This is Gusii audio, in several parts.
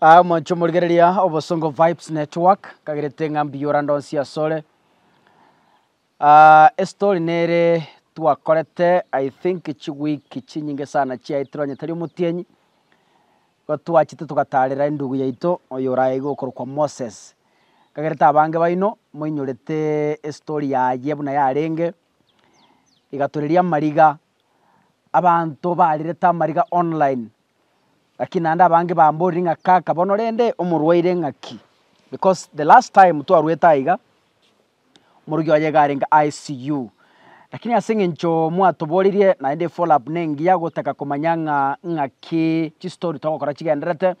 Aa omonche omorigereria obosongo vibes network kagerete ng'a mbiyora ndonsi asore uh, estory nere twakorete i think chiweek chinyinge sana chiaetire onye tari omotienyi gotwachete togatarera endugu yaito oyo oraeigwe okorokwa moses kagerete abange baino moinyorete estory yaye buna yarenge igatoreria amariga Abanto barerete amariga online, lakini naende abange bamborire ng'a kaka bono rende omorwaire ng'aki? Because the last time twarwete aiga, omorokia oye iga arenge ICU, lakini ase eng'encho mwatoborerie naende efollow up nengiya gotaka komanya ng'a ng'aki chistory togokora chigendererete,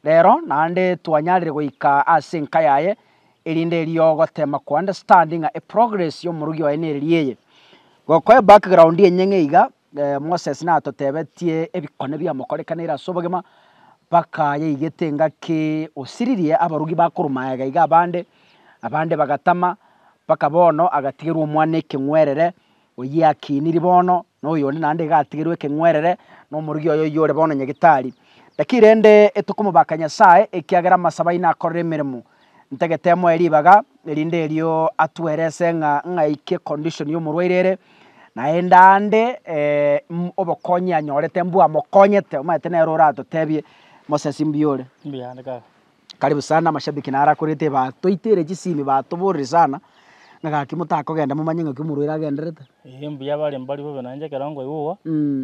rero naende twanyarire goika ase enka yaye, Erinde erio ogotema ko understand ng'a eprogress y'omorogi oye nere ri eye. Gokoe background enye ng'a iga, Moses natotebetie ebikone biamokorekanire ase obogima, mpaka yaigete engaki osiririe abarugi bakorwa magega iga abande, abande bagatama, mpaka bono agatigerwa omwana ekeng'werere, Oyio akiniri bono, na oyonde naende iga atigerwe ekeng'werere, na omorogi oye oyio ore bono nyagetari. Naki rende tokomobaka Nyasae, ekiagera amasabo aino akorire emeremo. Ntagete moe ribaga, erinde erio atwerese ng'a ng'aike condition y'omorwaire ere, naende aande obokonyi anyorete mbwamokonyete. Omanyete nere oratotebie, Moses mbuya ore. Mbuya ande kaka. Karibu sana amashabiki naro akorete ba toitere chisimi batoborire sana, ng'a gaki motakogenda momanye ng'aki omorwaire agenderete. Eeh mbuya bare mbari bobe nainche ekero nkoigwa igo,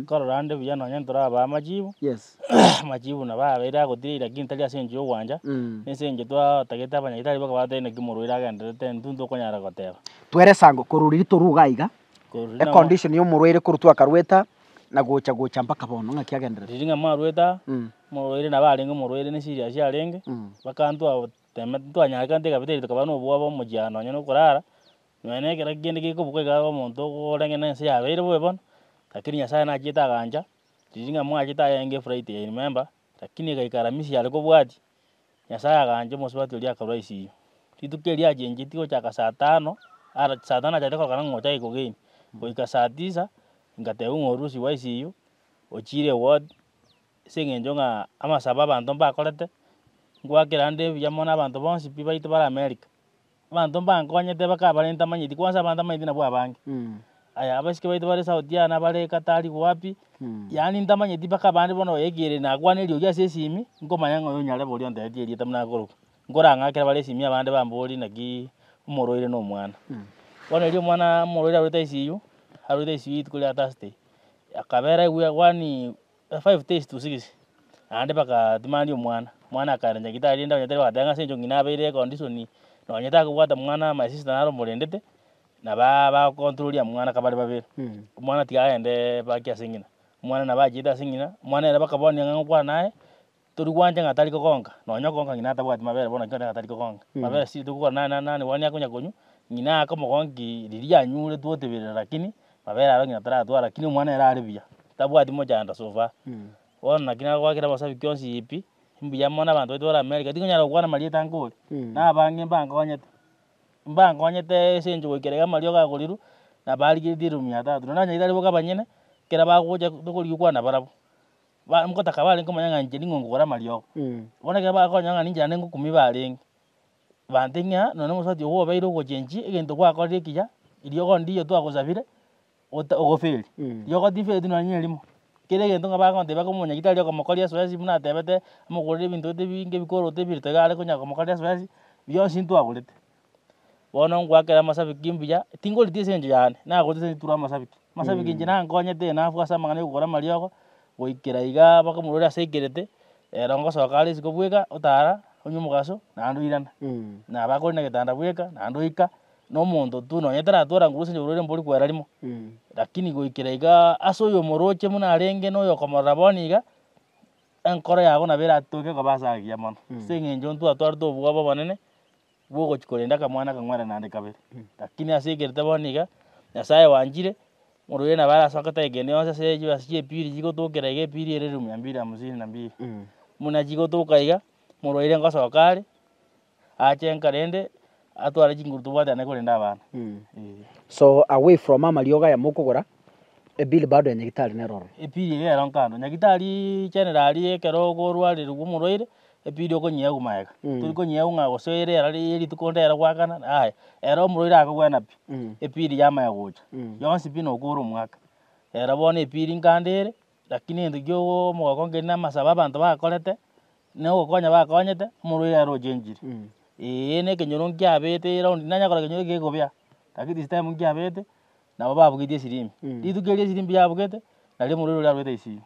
nkarora ande buya nonye ntorabaa amachibu, Yes. amachibu nabo abeire agotiga lakini tari ase enchera ya ogwancha, na ase eng'encho twatagete abanyagitari baka batebie naki omorwaire agenderete, intwe ntokonyara goteba. Twere esango korwa riria torwa iga iga, Korwa riria namo- econdition ya omorwaire korwa twakarwete aa, Na gocha gocha mpaka bono ng'aki agenderere. Riria ng'a mwarwete aa, Mm. omorwaire nabo arenge omorwaire ne esiri aase arenge, Mm. mpaka ntwa temete ntwanyarekante kabisa erio tokaba nobwoba omochie nonye na okorara, nonya na ekero kende gekobuka iga omonto orenge na ense yabeire bobe bono, lakini Nyasaye nachiete agancha, riria ng'a mwachete aye enge efuraha eye ime mba. Lakini agaikara Misiri are kobwatia, Nyasae agancha omosubati oria akarua isiko. Rituko erio achencheti gochaka saa tano, ara saa tano acharete korokana ng'a ochake kogeni, goika saa tisa, ngatebwa ng'a orusigwe isiko, ochiire ewodi, ase eng'encho ng'a amasabo abanto mbakorete, ngwakera ande buya mono abanto bonsi pi baito bare America. Abanto mbankonyete bakabarenta amanyeti, koo ase abanto amanyeti nabwo abange. Aya abasike baito bare South Jana bare Katari wapi, yaani ntamanyeti mpaka abande bono oyo ekere nakwaneri oria ase esimi, nkomanya ng'a oyo nyarebe oria ontebetie erieta buna akorokwa. Nkorang'akere bare esimi abande bambori naki omoro oire na omwana. Bono erio omwana omoro oire arwete ICU, arwete ICU rituko ria Thursday, akabera aigwe yaani. The five days to six naende bagatimania omwana, omwana akaira nyagetari rende onye tari gotenga ase eng'encho ng'ina abeire econdition nonye takobwata mwana my sister naro omorendete na ba bagocontrolia mwana kabare babere, omwana tiga agende baki ase ng'ina, omwana nabo achiete ase ng'ina, omwana ere bakabonia ng'a ngokwana naye Tori gwancha ng'a tari kogonka, nonya okonka ng'ina atabwati mabere bono nakio ng'a tari kogonka. Mabere siri tokogora nane nane nane bono nigo akonya konywa, ng'ina ake omogonki riria anyuretwe otebire lakini mabere aro ng'ina taratwara lakini omwana ere are buya, tabwati mochando so far. Bono naki nagoakera amasabi kionsi pi, mbuya mono abanto baito bare America, tikonyara gokwana amarieta nkore, na abange mbakonyete, mbakonyete ase enchera goika iga amariogo agorirwe, na barigeretie elfu mia tatu. Nonye onye tari boka abanyene, ekero bagocha tokorigia okwana nabarabwo. ba- ngotaka barenge omonyang'anchani ning'o ngogora amariogo. Bono ekero bakonya ng'a ninche naende ngokumia barenge, bantebia ng'a nonya na omosubati ogo obeire ogochenchie egento gwakorire ekiya, eriogo ndiyo twagosabire, ota- ogoferie. Riogo tifereti nonya nerimo, kera egento ng'a bagontebia ake omonyagi tari okomokoria esoesi buna atebete, omogorere ebinto bete binge ebikoroto ebire tiga are konya komokoria esoesi, bionsi ntwagorete. Bono ngwaakere amasabiki mbuya, tingorita ase engencho yane, nagorete ase rituro amasabiki. Amasabiki inche nankonyete enafu ase amang'ana ya ogokora amariogo, goikera igaa mpaka omorwaire ase aikerete, ero ngosoka are isiko bweka, otara, onywe omogaso, naende oirana. Nabo akore na egetanda bweka, naende oika, na omonto tu nonye taratwora nguru ase engencho oborwaire mbori kwera rimo. Lakini goikera igaa ase oyo omoroche buna arenge na oyo okomorora bono iga, enkoro yabo nabo eratoke koba ase agiya mono, ase eng'encho ntwatwarete obwoba obonene. bw'ogochia korenda akamwana akang'wera naende kabere. Lakini ase ekerite bono iga, Nyasae wanchire, ng'ora oria nabo arasoka tari kende gionsi ase chibesa chi'epiri chigotokera iga epiri ere elfu mia mbili hamsini na mbili. Buna chigotoka iga, morwaire ngosoka are, ache enka rende, atware chinguru tobwate naende korenda abana. Eeh. So away from amariogo aya mokogora, ebiri bado ya nyagitari nero ororo. Epiri iga ero nkando. Nyagitari chenera aria ekero okorwarerigwa omorwaire, Epidi okonyiegwa magega, tiri konyiegwa ng'a gose ere era ri- rituko nde ere goakana, aye. Ere omorwaire akogwena pi, epidi yamanya gocha, yonsi pi nokora omwaka. Ere bono epidi nkande ere, lakini egento kiago omogoko nkerinde amasabo abanto bakorete, na ogokonya bakonyete, omorwaire ere ochenchire. Eeh, na ekenyoro nkiabete eraundi, nanyakora ekenyoro ekegokobea, lakini this time nkiabete, nabo babugetie esirimi. Rituko erio esirimi yabugete, nario omorweri oria arwete ICU.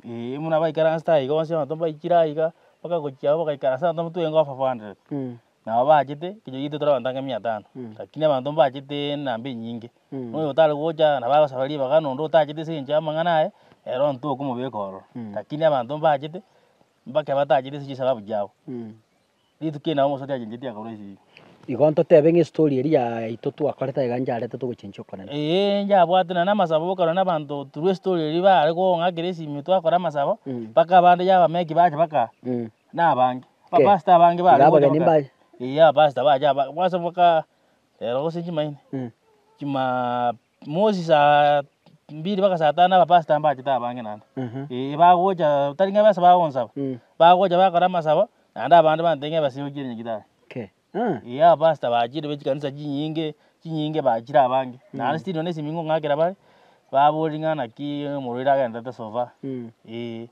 Eeh, buna baikire ang'anste aye iga bonsi abanto mbaikire aye iga, mpaka gochia abwo bagaikara ase abanto twenke over four hundred. Nabo bachete, ekenyoro giaito tore abanto ange mia tano, lakini abanto mbachete enamba enyinge. Buna oyo otare gocha, nabo agosaba ribaga, na onde otacheti ase engencho y'amang'ana aye, ere ontwe okomobeka ororo. Lakini abanto mbachete, mpaka batachete ase chisabau chiabo. Rituko eri nabo omosacha achencheti akarwa esegi. Igo ntotebe ng'a estory eria yaito twakorete aiga ncharete togochenchia okonene. Ee, njabwate nonya na amasabo bokarwa na abanto through estory eria bare kong'akera esimi twakora amasabo, Mm. mpaka abande ya abameki bacha baka Mm. na abange. Ke. Abapastor abange bare Iga gocha abageni baka- mbaye. Ee, abapastor bacha aba- bosa baka rero gose chimaini, Mm. chima. Mosi saa mbili mpaka saa tano abapastor mbachete abange naende. Mhm. Eh, bagocha tari ng'a besa bagonsaba. Mm. Bagocha bakora amasabo, naende abande bantete ng'a ebesa yochire nyagitari. Okay. Ah. Eh, abapastor bachire be chikanisa chinyinge, chinyinge bachire abange. Naende still nonye na esimi ngong'akera bare, baborie ng'a naki omorwaire agenderete so far. Mm. Eh.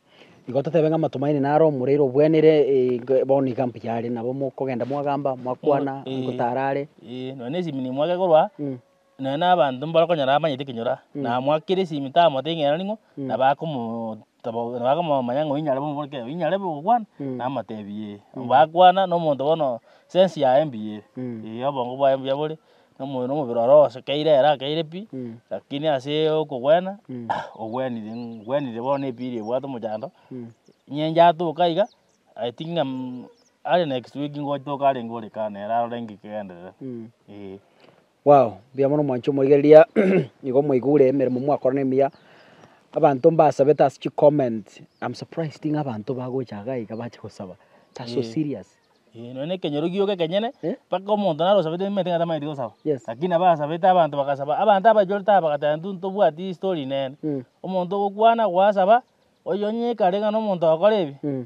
Igo totebe ng'a Matumaini naro omorwaire obwenerire eh, ge- bono iga mbuya are nabo mokogenda mwagamba, mwakwana, Eh. gotara are. Eh, nonye na esimi nimwake korwa aa, Mm. Nonye nabanto mbarakonyora amanyete ekenyoro aa, namwakera esimi tamotebia ng'a ero ning'o, na bakomotobokia, bakomomanya ng'a oyio nyarebe omobori kei, oyio nyarebe ogokwana, namotebia ee. Bakwana na omonto bono sense yaye mbuya ere, ee obongo bwaye mbuya bore, na omo- na omobere oro osokeire ere akeire pi, lakini ase okogwena, ogwenire ng'u gwenire bono epira ebwate omochando, nyencho atoke aiga, I think ng'a aria next week ngotoke arenge ore kaa nere arore ng'ekegenderere, ee. Wow, mbuya mono mwanche omoigereria nigo mwaigure emeremo mwakorana emiya. Abanto mbasabete ase chi comment, I'm surprised ng'a abanto bagocha iga iga bache gosaba. That's so Eh. serious. Eh, nonya na ekenyoro gioka ekenyene, Eh? mpaka omonto naro osabete nimanyete ng'a tamanyeti gosaba. Yes. Lakini nabo asabete abanto bagasaba, abanto abachorete aba bagateba intwe ntobwati history nene. Mm. Omonto ogokwana, gwasaba, oyo onye ekare ng'a nomonto ogokora ebi, Mm.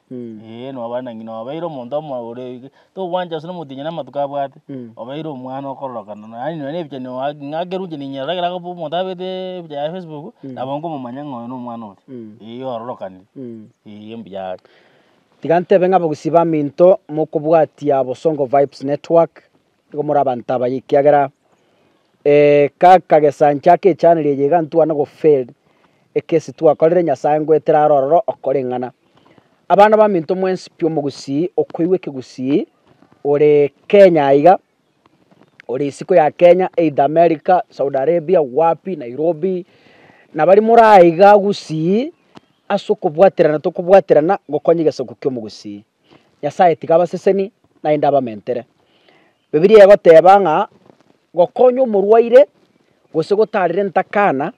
Ee, nobare na ng'ina, obeire omonto omo- ore ege, tokobwancha gose nomotienyi namatuko abwate, obeire omwana okororokana na- yaani nonye na ebichani oa- ng'a ake runche ninyerora ekero akobo- omonto abete ebicha ya facebook, nabo nkomomanya ng'a oyo na omwana oria, eyi ororokanire, eyi mbuya ake. Tiga ntebe ng'a abagusii baminto mokobwatia Bosongo Vibes Network, Nigo more abanto abaye, ekiagera kaka gesancha ake echaneli eye iga ntwane gofail ekesi twakorire, Nyasae ngoetera aro ororo okoreng'ana. Abana baminto mwensi pi omogusii okoigwa ekegusii ore Kenya aiga, ore isiko ya Kenya either America, Saudi Arabia, wapi, Nairobi, nabari more aiga gusii ase okobwaterana tokobwaterana gokonywa egesaku kia omogusii. Nyasae tiga abaseseni, naende abamentere. Bibilia egoteba ng'a gokonya omorwaire, gose gotaarera entakana,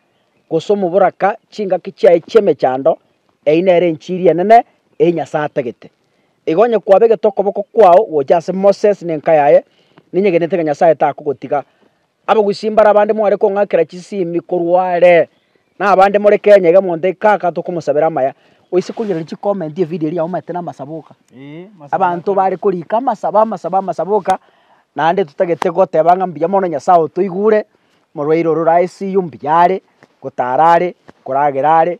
gose omoboraka chingaki chiaye chi'emechando, eyio nere enchiri enene eyio Nyasae atagete. Igo onye kwabegete okoboko kwao gocha ase Moses na enka yaye, ninyegenete ng'a Nyasae takogotiga Abagusii mbare abande mware kong'akera chisimbi korwa are, na abande more Kenya iga monte kaka tokomosabera amaya. Oise korigereria chi comment evideo eria aumate na amasabo oka. Abanto bare korika amasabo amasabo amasabo oka, naende totagete goteba ng'a mbuya mono Nyasaye otoigure, morwaire ore ore ICU mbuya are, gotara are, koragera are,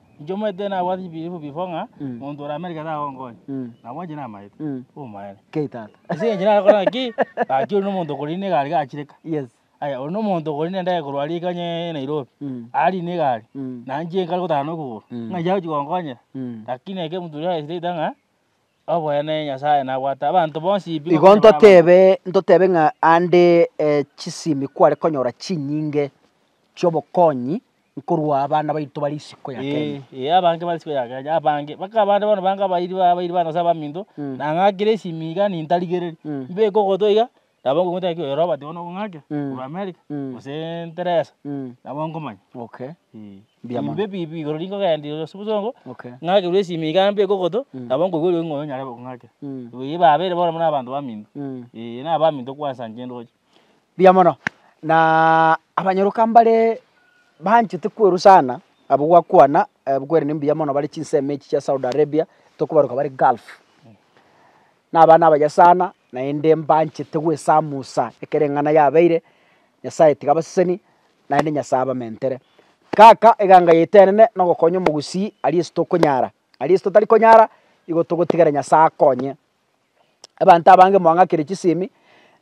Inche omanyete nabwate chibiribwa bifo ng'a monto oramenyeke tagonkonya, nabo inche namaete, omaene. Kei tata. Ase eng'encho narakore ng'a ki, gaki oria nomonto okori ne egari gachireka. Yes. Aya oria nomonto okori nende aye korwa riika onye Nairobi, ari ne egari, na inche nkare gotara na okogoro, ng'a inche agochia gonkonyera. Lakini eke moturi are straight ng'a, oboene Nyasaye nabwate abanto bonsi pi. Igo ntotebe, ntotebe ng'a ande chisimi kware konyora chinyinge chi'obokonyi. Nkorwa abana baito bare isiko ya Kenya. Ee, ee, abange bare isiko ya Kenya, abange. Baka abande bono bange abairi ba abairi ba Nyasae abaminto, Mm. na ng'akire esimi iga nintarigereri. Mm. Mbeke ogotwe iga, nabo ngogotebia ng'a oyo Robert bono ong'ake, Mm. korwa America, Mm. gose Teresa, Mm. nabo nkomanya. Okay. Ee. Mbuya mono. Imbe bibi igoro rinde ogenda ase obosongo, Okay. ng'akerwe esimi iga mbeke ogotwe, Mm. nabo nkoigwa oriogi ng'a oyo nyarebe kong'ake. Mm. Ee, babeire bono buna abanto baminto. Mm. Ee, na abaminto kwansa inche ndoche. Mbuya mono, naaaa abanyoroka mbaree banchete kwerwa sana, abwo gwakwana kwerende mbuya mono bare chinsemo echi chia Saudi Arabia, tokobaroka bare Gulf. Na abana abaye sana, naende mbanchete gwesamusa ekero eng'ana yabeire, Nyasaye tiga abaseseni, naende Nyasaye abamentere. Kaka eganga yaito enene na ogokonya omogusii aria ase tokonyara, aria ase totari konyara, igo togotigera Nyasaye akonye. Abanto abange mwang'akire chisemi,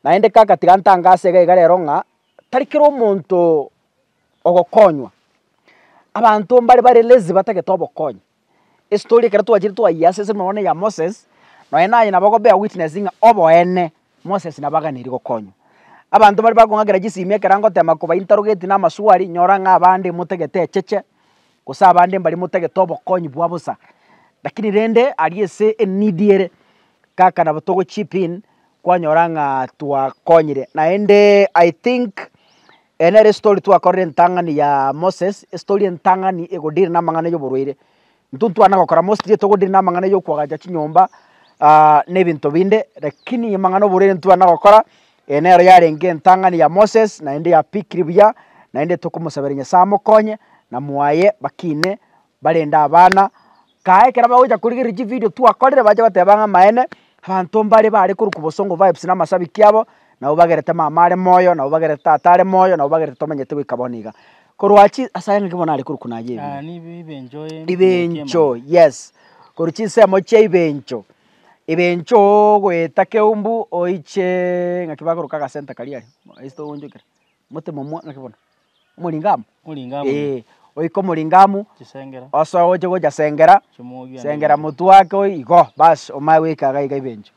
naende kaka tiga ntange ase egaiga rero ng'a tari kera omonto ogokonywa. Abanto mbare bare lazy batagete obokonyi. Estory ekero twachire twayia ase esemore bono ya Moses, nonye nanye nabo ogo bear witness ng'a oboene Moses nabo aganeirie gokonywa. Abanto bare bakong'akera chisemi ekero angotema kobainterogeti na amaswari, nyora ng'a abande emotagete echeche, Gose abande mbaria motagete obokonyi bwa bosa, lakini rende aria ase enidi ere, kaka nabo togo chip in kwanyora ng'a twakonyire. Naende I think eye nere estory twakorire entang'ani ya Moses, estory entang'ani ego deal na amang'ana y'oborwaire. Intwe ntwana gokora mostly togo deal na amang'ana yokwagacha chinyomba na ebinto binde, lakini amang'ana oborwaire ntwana gokora Eye nero yarenge entang'ani ya Moses, naende ya Pikiri buya, naende tokomosaberia Nyasae amokonye, na mwaye bakine barende abana. Kae ekero bagocha korigereria chividio twakorire bache bateba ng'a amaene, abanto mbare bare korwa kobosongo vibes na amasabiki abo, nabo bagerete mama are moyo, nabo bagerete tata are moyo, nabo bagerete tomenyete goika bono iga. Korwa chi ase ayang'aki bono nare korokwa naye ebiya. Ebirencho, yes, korwa chinsemo chia ebirencho, Ebenchoo goeta keumbu oiche ng'aki bagoroka agasenta karia aria, ase togoonchokire, mote momwa ng'aki bono, omoringamu? Omoringamu. Eeh, oike omoringamu. Chisengera. Osoe oche gocha sengera. Chimwogie. Sengera motwe ake oyi igo, bas omaye goika iga iga ebenchoo.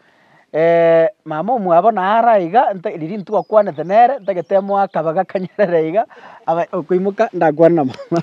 mama omwabo bono naro aiga, nta riria intwe twakwanete nere, ntagete emoa kabe gakanyerera iga, abae okoimoka ndakwane na mama.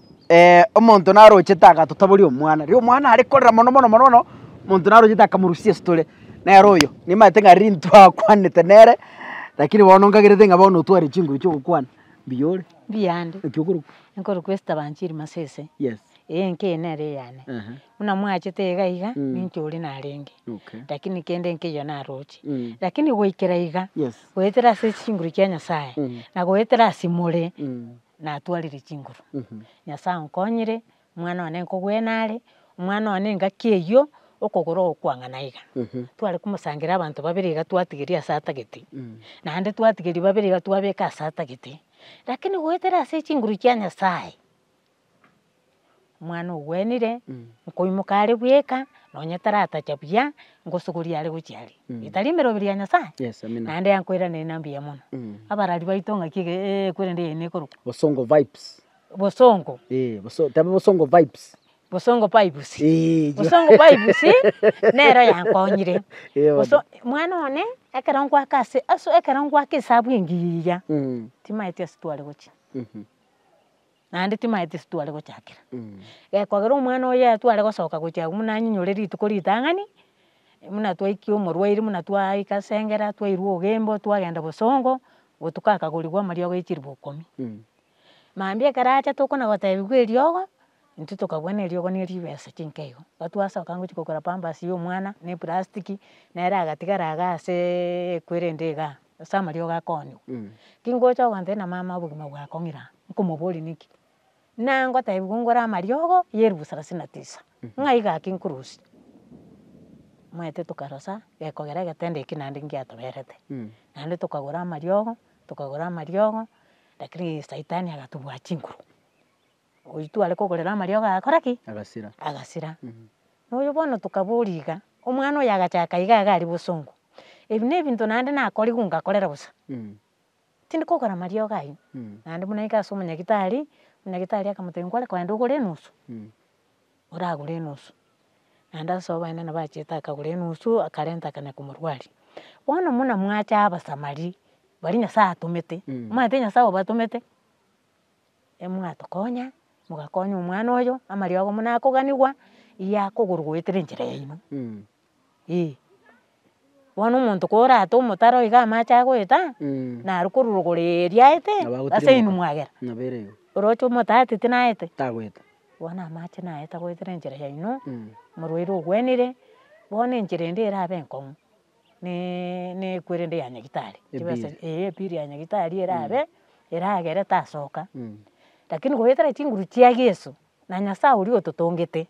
omonto narochete agatotoboria omwana, riria omwana are korera mono mono mono mono, omonto narochete akamorusia esitore, nere oyo nimanyete ng'a riria intwe akwanete nere, rakini bono nkagerete ng'a bono otware chinguru chia ogokwana, mbuya ore. Mbuya ande. Naki okorokwa. Nkorokwa Esther Banchiri Masese. Yes. Eye enka eye nere eyane. Ehe. Buna mwachete iga iga, Mm. ninche oria narenge. Okay. Rakini kende enka eyio naroche. Mm. Rakini goikera iga. Yes. Goetera ase chinguru chia Nyasaye. Mm. Na goetera ase more. Mm. natwarire chinguru, Nyasaye onkonyire, omwana one nkogwene are, omwana one engaki eyio, okogoro ogokwang'ana iga. Tware komosangera abanto babere iga twatigeria ase atagete, naende twatigeria babere iga twabeka ase atagete, rakini goetera ase chinguru chia Nyasaye. omwana ogwenire nkoimoka are bweka nonye taratacha buya ngosogoria are gochia are etari emeroberi ya Nyasaye Yes, amina. naende yakoiraneria na mbuya mono abarari baito ng'aki ege eh, ekwerende eye nekorokwa Bosongo vibes. bosongo Eh, boso- tebe bosongo vibes. bosongo pipes Eh, jo. bosongo pipes nero yankonyire Eh, bono. boso omwana one ekero ngoaka ase aso ekero ngoaka esabu engiya Mm, timaeti ase tware gochia. mhm. naende timaye tisitware gochakera, gekogera omwana oye atware gosoka gochia agwo buna anyinyore rituko ritang'ani, buna twaikia omorwaire buna twaika ase engera twairwa obogembo twagenda bosongo, gotuko akagorigwa amariogo ya chiribu ikomi. Mambia ekero acha tokona gotebiwa eriogo, intwe tokabua na eriogo ne ribesa chinka igo, igo twasoka gochia kogora pampasi ya omwana na eplastic nere agatigara iga aseee ekwere ende igaa. Ase amariogo akonywa. Tingocha ogancha na mama obogima bwa akong'ira nkomoboria niki. Na ngotebiwa ngore amariogo ya elfu thelathini na tisa. Ng'a iga aki nkorusia. Omanyete tokarosa gekogera egetanda eki naende ngiatoberete. Naende tokagora amariogo, tokagora amariogo, lakini saitani agatubua chinguru. oyio tware kogorera amariogo agakora ki? Agasira. Agasira. Na oyio bono tokaboria iga, omwana oyo agachaka iga iga aria bosongo. Ebi ne ebinto naende nakorigwe ngakorera bosa. Tindi kogora amariogo ayio. Naende buna iga ase omonyagitari, omonyagitari akamotebia nkware kogenda ogore enusu, oragure enusu. Naende ase oboene nabo achiete akagora enusu akarenta akana komorwaria. Bono buna mwacha abasamari, baria Nyasaye atomete, omanyete Nyasaye obatomete? emwatokonya, mogakonya omwana oyo, amariogo buna akoganigwa, iga akogorwa goetera enchera yaino, eeh. Bono omonto korate omotaro iga amache agoeta, naro korwa rogoro eria aete, ase inwe mwagera, oroche omotatete naete, tagoeta, bono amache naeta goetera enchera yaino, morwaire ogwenire, bono enchera ende erabe enkong'u. ne ekwerende ya nyagitari, chibesa Ebiiri. eeh ebiiri ya nyagitari erabe, eragere tasoka, lakini goetera chinguru chia Yeso, na Nyasaye oria ototongete,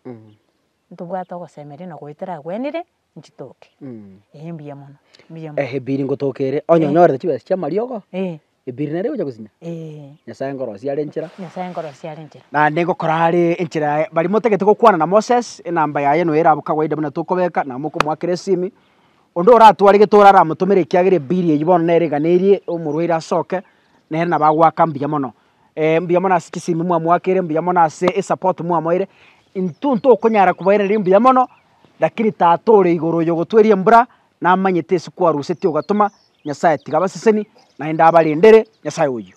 ntobwate ogosemeria na goetera agwenire, nchitoke, eeh mbuya mono, mbuya mono. Eeh ebiiri ngotoka ere, onye onyorete chibesa chia amariogo, eeh Ebiri naende gocha gosinya? Ee. Nyasae nkorosia are enchera. Nyasae nkorosia are enchera. Naende ngokora are enchera yaye. Baria motagete gokwana na Moses, enamba yaye noyo ere abwo kawaida buna tokobeka, na mokomoakera esimi. Onde oratware getora aramotomere ekiagera ebiri eyio bono nere eganerie omorwaire asoke, nere nabo agoaka mbuya mono. mbuya mono ase chisimi mwamoakire, mbuya mono ase esapport mwamoire. Intwe ntokonyara kobairaneria mbuya mono, lakini Tata ore igoro oyo ogotweria embura. namanyete ase kwaruseti ogatoma, Nyasaye tiga abaseseni, naende abarendere, Nyasaye oyio.